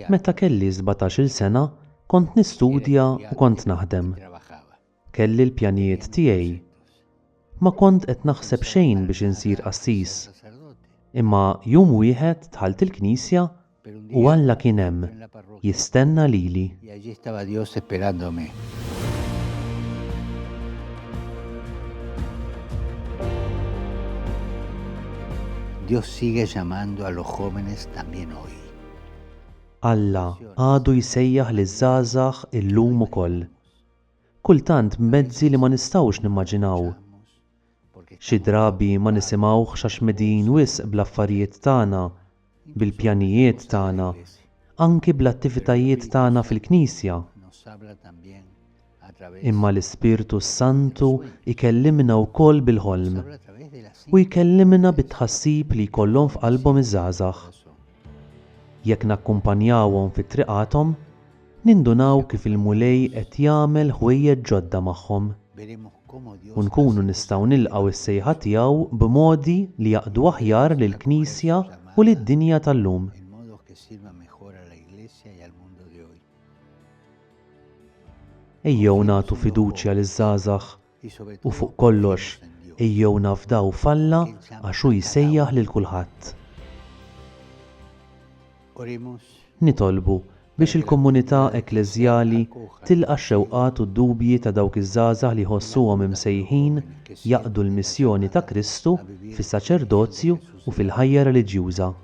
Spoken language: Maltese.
Meta kelli 17-il sena, kont nistudja u kont naħdem. Kelli l-pjanijiet tiegħi. Ma kont qed naħseb xejn biex insir qassis. Imma jum wieħed dħalt il-knisja U Alla kien hemm, jistenna lili. Alla għadu jsejjaħ liż-żgħażagħ illum ukoll. Kultant b'mezzi li ma nistgħux nimmaġinaw, Xi drabi ma nisimgħuhx għax medijin wisq bl-affarijiet tagħna, bil-pjanijiet tagħna, anki bl-attivitajiet tagħna fil-Knisja. Imma l-Ispirtu s-Santu jkellimna wkoll bil-ħolm. U jkellimna bit-tħassib li jkollhom f'qalbhom iż-żgħażagħ. Jekk nakkumpanjawhom fi triqathom, nindunaw kif il-Mulej qed jagħmel ħwejjeġ ġodda magħhom. U nkunu nistgħu nilqgħu s-sejħa tiegħu b'modi li jaqdu aħjar lill-Knisja u lid-dinja tal-lum. Ejjew nagħtu fiduċja liż-żgħażagħ U fuq kollox, ejjew nafdaw f'Alla għax hu jsejjaħ lil kulħadd. Nitolbu biex il-komunità ekkleżjali tilqa' x-xewqat u d-dubji ta' dawk iż-żgħażagħ li jħossuhom imsejħin jaqdu l-missjoni ta' Kristu fis-saċerdozju u fil-ħajja reliġjuża.